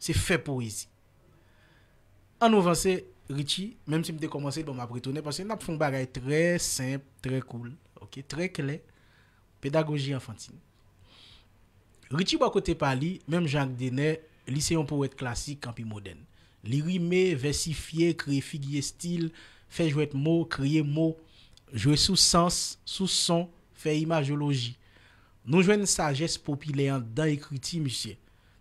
Se fè poezi. An nou vanse Richie, menm si m te kòmanse bon m ap retounen paske n ap fè yon bagay trè senp, trè koul, ok, trè klè, pedagoji anfantin. Richie bò kote pa li, menm jan ak Dener, li se yon powèt klasik anpi modèn. Li rime, vèsifye, kreye figi estil, fè jwèt mo, kreye mo, jwe sou sans, sou son, fè imajoloji. Nou jwenn sajès popilè anndan ekriti misye,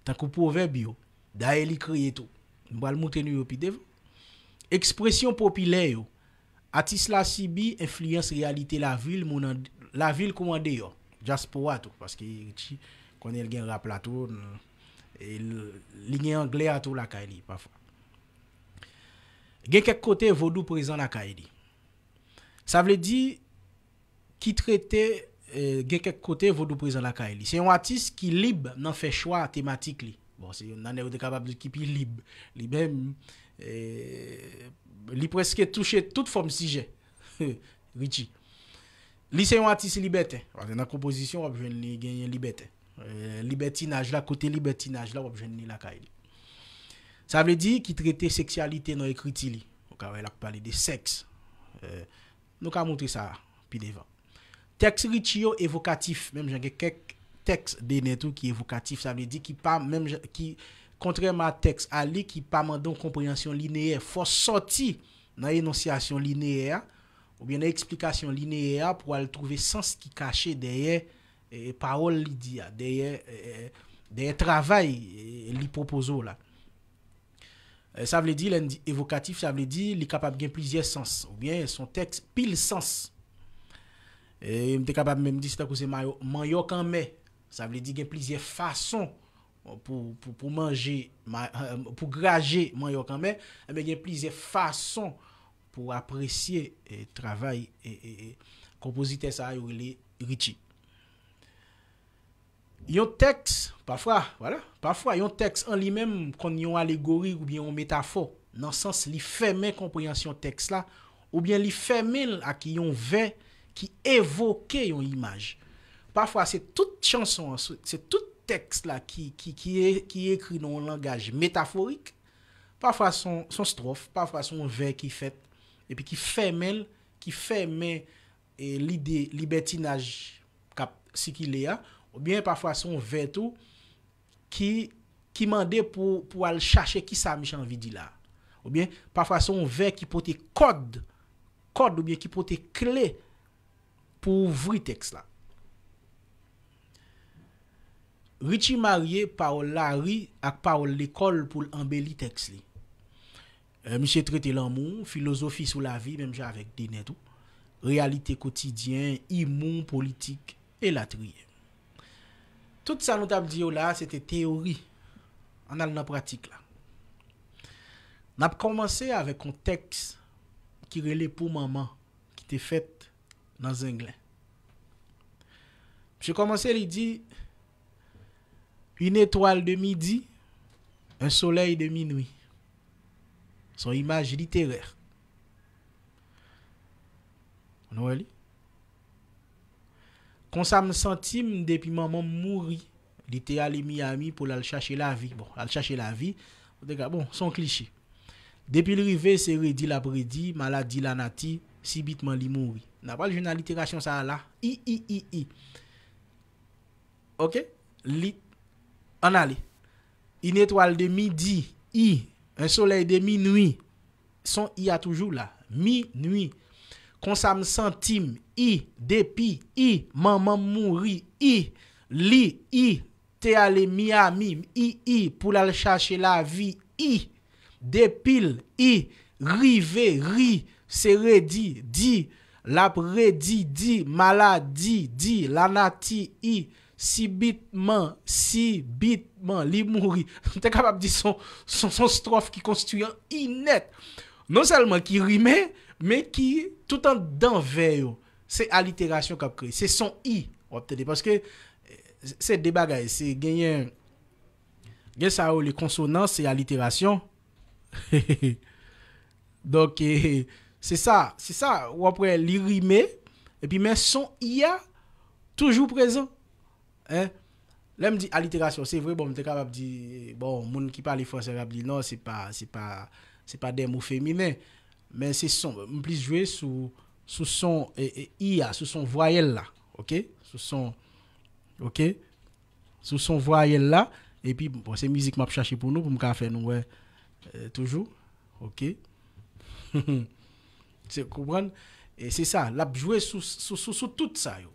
tankou pwovèb yo, dayè li kreye tou, m pral moutre nou yo pi devan, ekspresyon popilè yo. Atis la sibi enfliyans reyalite lavi l moun lavi l kou andeyò, dyaspora tou, paske Ritchie konnen l gen rap la tou, e li gen anglè a tou lakay li pafwa. Gen kèk kote vodou prezan lakay li. Sa vle di. ki trete gen kèk kote vodou prezan lakay li. Se yon atis ki lib nan fè chwa tematik li. Bon, se youn nan nèg ou te kapab di ki pi lib. Li menm, li prèske touche tout fòm sijè, Richie. Li se yon atis libèten, paske nan konpozisyon w ap jwenn li genyen libèten. Libètinaj la, kote libètinaj la w ap jwenn li lakay li. Sa vle di ki trete seksyalite nan ekriti li. Ou ka wè l ap pale de sèks. Nou ka montre sa pi devan. Tèks Richie yo evokatif, menm jan gen kèk tèks Dener tou ki evokatif, sa vle di ki pa menm jan, ki, kontrèman a tèks Aly ki pa mande yon konpreyansyon lineyè, fò sòti nan enonsyasyon lineyè a, oubyen nan eksplikasyon lineyè a pou al twouve sans ki kache dèyè pawòl li di a, dèyè travay li pwopoze w la. Sa vle di, lè n di evokatif, sa vle di li kapab gen plizyè sans oubyen s on tèks pil sans. M te kapab menm di se tankou se manyòk anmè. Sa vle di gen plizyè fason pou manje, pou graje manyòk anmè. Enben gen plizyè fason pou apresye travay konpozitè sa yo rele Ritchie. Yon tèks, pafwa, wala, pafwa yon tèks an li menm konn yon alegori oubyen yon metafò, nan sans li fèmen konpreyansyon tèks la oubyen li fèmen l ak yon vè ki evoke yon imaj. Pafwa se tout chanson an, se tout tèks la ki, ki, ki, ki ekri nan yon langaj metaforik, pafwa s on, s on stròf, pafwa s on vè ki fèt epi ki fèmen l, ki fèmen. lide libètinaj k ap sikile a, oubyen pafwa se yon vè tou ki mande pou ou al chache kisa misye anvi di la. Oubyen pafwa se yon vè ki pote kòd, kòd oubyen ki pote kle pou ouvri tèks la. Richie marye pawòl lari ak pawòl lekòl pou l anbeli tèks li. Misye trete lanmou, filozofi sou lavi menm jan avèk Dener tou, reyalite kotidyen, imou, politik, elatriye. Tout sa nou t ap di yo la a se te teyori, ann al nan pratik la. N ap kòmanse avèk yon tèks ki rele Pou manman ki te fèt nan Zenglen. Misye kòmanse li di. Une étoile de midi, un soleil de minuit. Son imaj literè. Nou wè li? Konsa m santi m depi manman m mouri. Li te ale Miami pou l al chache lavi. Bon, al chache lavi, ou te ka, bon, son kliche. Depi l rive, se redi l ap redi, maladi lanati, sibitman li mouri. N apral jwenn aliterasyon sa a la. I-i-i-i. Ok li Ann ale Yn etwal de midi I Yn solèy de minwi Son I a toujou la Minwi Konsa m santi m I Depi I Manman m mouri I Li I te ale Miyami m I I pou l al chache lavi I. Depil, i, rive, ri, se redi, di, lap redi, di, maladi, di, lanati, i, sibit, man, si, bit, man, li mouri. M te kapab di son, son, son stròf ki konstwi an i nèt. Non sèlman ki rime, men ki, tout anndan vè yo, se aliterasyon k ap kreye. Se son i w ap tande. Paske, se de bagay. Se genyen. Gen sa yo rele konsonans, se aliterasyon. Donk, se sa, se sa, w ap wè li rime, epi men son i a toujou prezan. Lè m di aliterasyon, se vre bon m te kapab di, bon moun ki pale franse ap di non se pa, se pa, se pa de mo feminen. Men se son, m plis jwe sou, sou son i a, sou son vwayèl la. Ok, sou son, ok. Sou son vwayèl la epi bon se mizik map chache pou nou pou m ka fè nou wè toujou ok se konprann e se sa lap jwe sou tout sa yo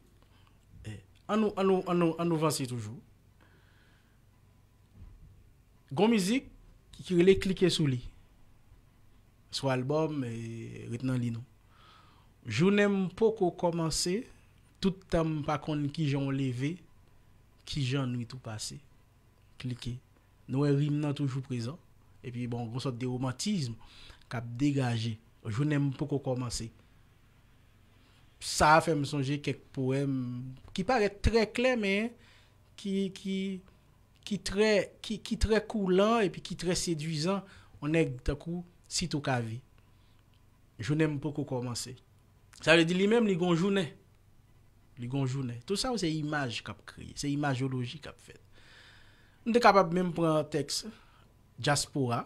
an nou an nou an nou an nou vanse toujou gon mizik ki rele klike sou li sou album ret nan li nou jounen m poko kòmanse Tout tan m pa konn kijan w leve kijan nwit ou pase Klike Nou wè rim nan toujou prezan Epi bon gon sòt de romantism k ap degaje Jounen m poko kòmanse Sa a fè m sonje kèk powèm ki parèt trè klè men ki trè ki trè koulan epi ki trè sedwizan On nèg tankou Sitokavi Jounen m poko kòmanse. Sa vle di li menm li gon jounen. Li gon jounen. Tout sa yo se imaj k ap kreye. Se imajoloji k ap fèt. M te kapab menm pran tèks dyaspora.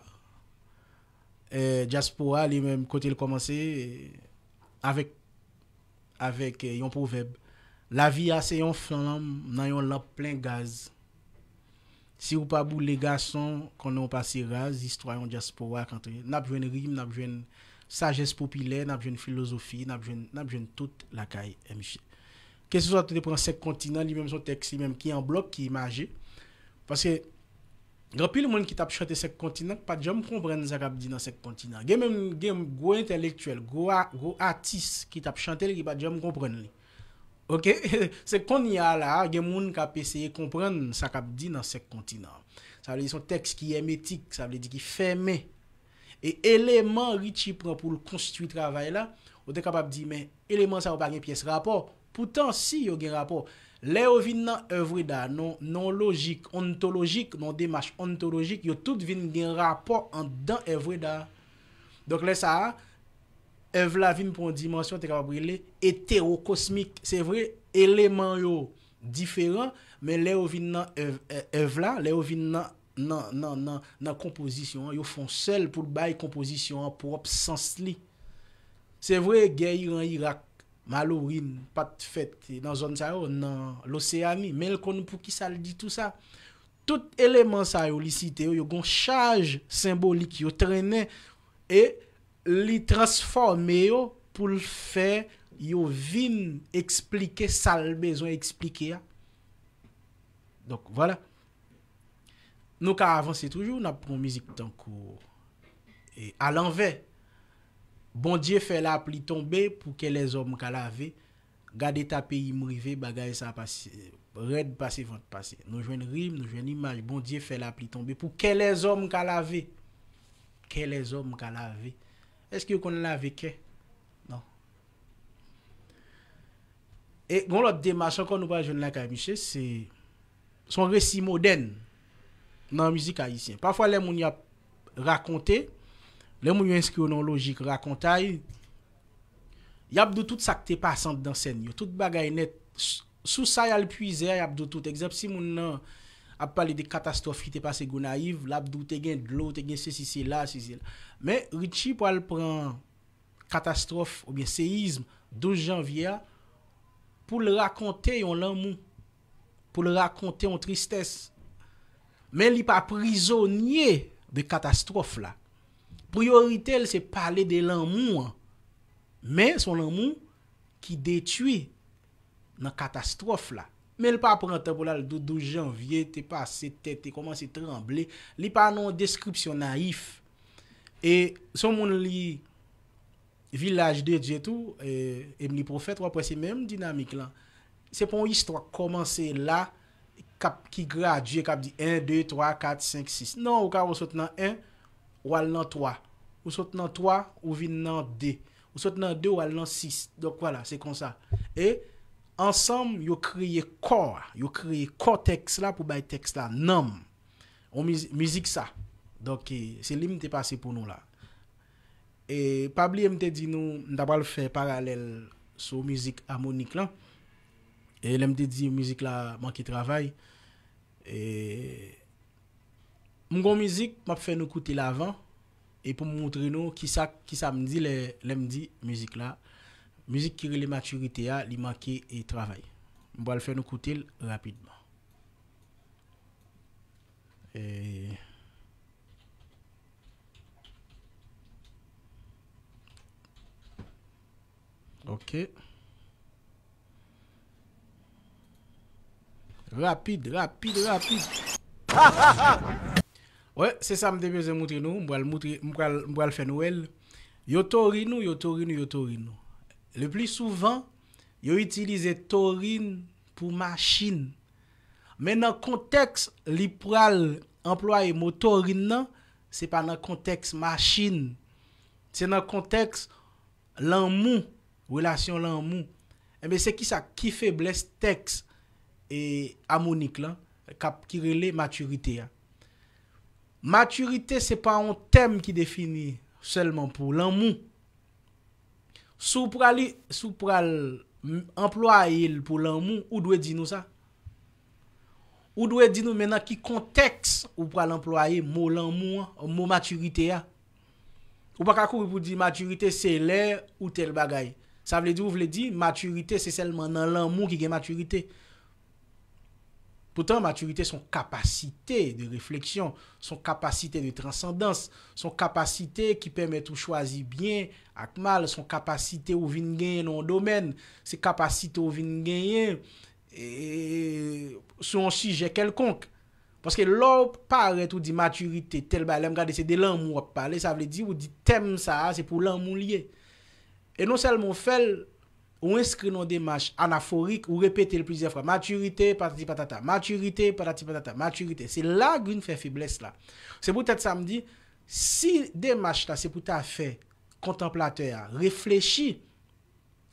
Dyaspora li menm kote l kòmanse avèk avèk yon pwovèb, Lavi a se yon flanm nan yon lanp plen gaz. Siw pa boule gason konnen w pase raz istwa yon dyaspora k antre nap jwenn rim nap jwenn sajès popilè nap jwenn filozofi nap jwenn nap jwenn tout lakay MJ keseswa te pran 5 kontinan li menm son tèks li menm ki an blòk ki imaje paske gen anpil moun ki tap chante 5 kontinan ki pat janm konprann sa kap di nan 5 kontinan gen menm gen gwo entèlektyèl gwo atis ki tap chante l ki pat janm konprann li. Ok se konnya a la a gen moun k ap eseye konprann sa k ap di nan senk kontinan. Sa vle di se yon tèks ki èmetik, sa vle di ki fèmen. E eleman Richie pran pou l konstwi travay la, ou te kapab di men eleman sa yo pa gen pyès rapò. Poutan si yo gen rapò. Lè yo vin nan èvweda, nan yon lojik ontolojik, nan yon demach ontolojik, yo tout vin gen rapò anndan èvweda a. Donk lè sa a. èv la vin pran yon dimansyon te kapab rele etewokosmik. Se vre, eleman yo diferan, men lè yo vin nan èv la, lè yo vin nan konpozisyon an, yo fon sèl pou l bay konpozisyon an pwòp sans li. Se vre, gè Iran-Irak, Malorin, pa t fèt nan zòn sa yo, nan Loseyani, men l konn pou ki sa l di tou sa. Tout eleman sa yo li site yo, yo gen yon chaj senbolik yo trennen e Li transfòme yo pou l fè yo vin eksplike sa l bezwen eksplike a. Donk, vwala. Nou ka avanse toujou, n ap pran yon mizik tankou Alanvè. Bondye fè lapli tonbe pou ke lèzòm ka lave. Gad eta peyi m rive bagay sa pa rèd pase vant pase nou jwenn rim nou jwenn imaj bondye fè lapli tonbe pou kè lèzòm ka lave kè lèzòm ka lave èske yo konn lave kè nan e gon lòt demach ankò nou pral jwenn lakay misye se son resi modèn nan mizik ayisyen pafwa lè moun yap rakonte lè moun yo enskri yo nan yon lojik rakontay Yap di w tout sak te pase andan sèn yo, tout bagay nèt, sou sa yal pwize a yap di w tout, egzanp si moun nan ap pale de katastwòf ki te pase Gonayiv lap di w te gen dlo, te gen sesi sela, si sela. Men Richie pwal pran katastwòf oubyen seyizm 12 janvye a poul rakonte yon lanmou. pou l rakonte yon tristès, men li pa prizonye de katastwòf la. Priyorite l se pale de lanmou an, men s on lanmou ki detwi nan katastwòf la. Men l pa pran tan pou l al di w 12 janvye te pase, tè te kòmanse tranble, li pa nan yon deskripsyon nayif. E s on moun li. Vilaj de Dye tou, Emely Prophète wap wè se menm dinamik lan. Se pa yon istwa k kòmanse la kap ki gradye kap di 1, 2, 3, 4, 5, 6. Non ou ka wè ou sot nan 1 ou al nan 3, ou sot nan 3 ou vin nan 2, ou sot nan 2 ou al nan 6. Donk wala se konsa. E ansanm yo kreye kò a, yo kreye kò tèks la pou bay tèks la nanm. On mizik sa. Donk se li m te pase pou nou la. E pa bliye m te di nou m ta pral fè paralèl sou mizik Amonik lan. E lè m te di mizik la manke travay. E m gon mizik m ap fè nou koute l avan e pou m moutre nou kisa kisa m di lè m di mizik la mizik ki rele matirite a li manke travay. M pral fè nou koute l rapidman. Ok Rapid Rapid Rapid Hahaha Wè se sa m te bezwen moutre nou m pral moutre m pral m pral fè nou wè l yo tori nou yo tori nou yo tori nou le pli souvan yo itilize torin pou machin. Men nan kontèks li pral anplwaye motorin nan, se pa nan kontèks machin. Se nan kontèks lanmou, relasyon lanmou. Enben se kisa, ki feblès tèks amonik lan kap ki rele matirite a. Matirite se pa yon tèm ki defini sèlman pou lanmou. Si w pral si w pral anplwaye l pou lanmou, ou dwe di nou sa. Ou dwe di nou men nan ki kontèks ou pral anplwaye mo lanmou an, mo matirite a. Ou pa ka kouri pou di matirite se lè ou tèl bagay. Sa vle di ou vle di matirite se sèlman nan lanmou ki gen matirite. Poutan maturite son kapasite de refleksyon, son kapasite de transandans, son kapasite ki pèmèt ou chwazi byen ak mal, son kapasite ou vin genyen nan yon domèn, se kapasite ou vin genyen sou yon sijè kèlkonk. Paske lè w parèt ou di maturite tèl bagay, lè m gade se de lanmou w ap pale, sa vle di ou di tèm sa a se pou lanmou l ye. E non sèlman w fè l, Ou enskri nan demach anaforik, ou repete l plizyè fwa, matirite, patati patata, matirite, patati patata, matirite. Se la a Green fè feblès la. Se poutèt sa m di, si demach la se pou ta fè kontanplatè a reflechi,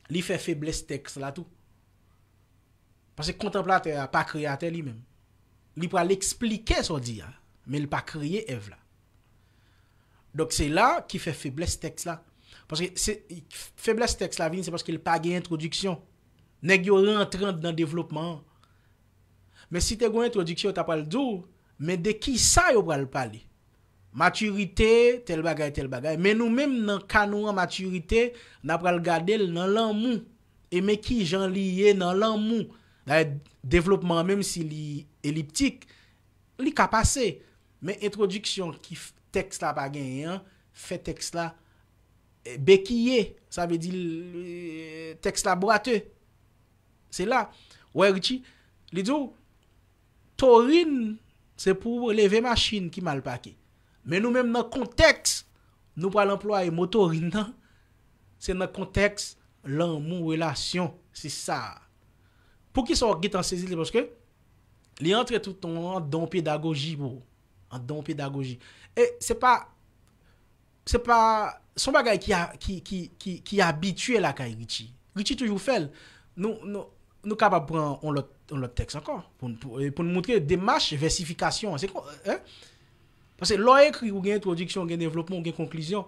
li fè feblès tèks la tou. Paske kontanplatè a pa kreyatè li menm. Li pral esplike sa w di a, men li pa kreye èv la. Donk se la ki fè feblès tèks la. Paske se feblès tèks la vini se paske li pa gen entwodiksyon. Nèg yo rantre anndan devlopman an. Men si te gen yon entwodiksyon yo ta pral di w men de ki sa yo pral pale. Matirite, tèl bagay, tèl bagay. Men nou menm nan ka nou an matirite na pral gade l nan lanmou. E men ki jan li ye nan lanmou. Dayè devlopman an menm si li eliptik. Li ka pase, men entwodiksyon ki tèks la pa genyen an fè tèks la bekiye, sa vle di tèks la bwate. Se la ou wè Richie, li di w, Torin se pou w leve machin ki mal pake. Men nou menm nan kontèks nou pral anplwaye mo Torin nan, se nan kontèks lanmou, relasyon. Se sa a. Poukisa w gen tan sezi l? Se paske Li antre tout an an dan pedagoji bro. An dan pedagoji. E se pa, se pa, se yon bagay ki a, ki, ki, ki, ki abitye lakay Richie. Richie toujou fè l. Nou, nou, nou kapab pran yon lòt, yon lòt tèks ankò pou n, pou n montre demach vèsifikasyon an. Se kon, hein? Paske lè w ekri ou gen entwodiksyon, ou gen devlopman, ou gen konklizyon.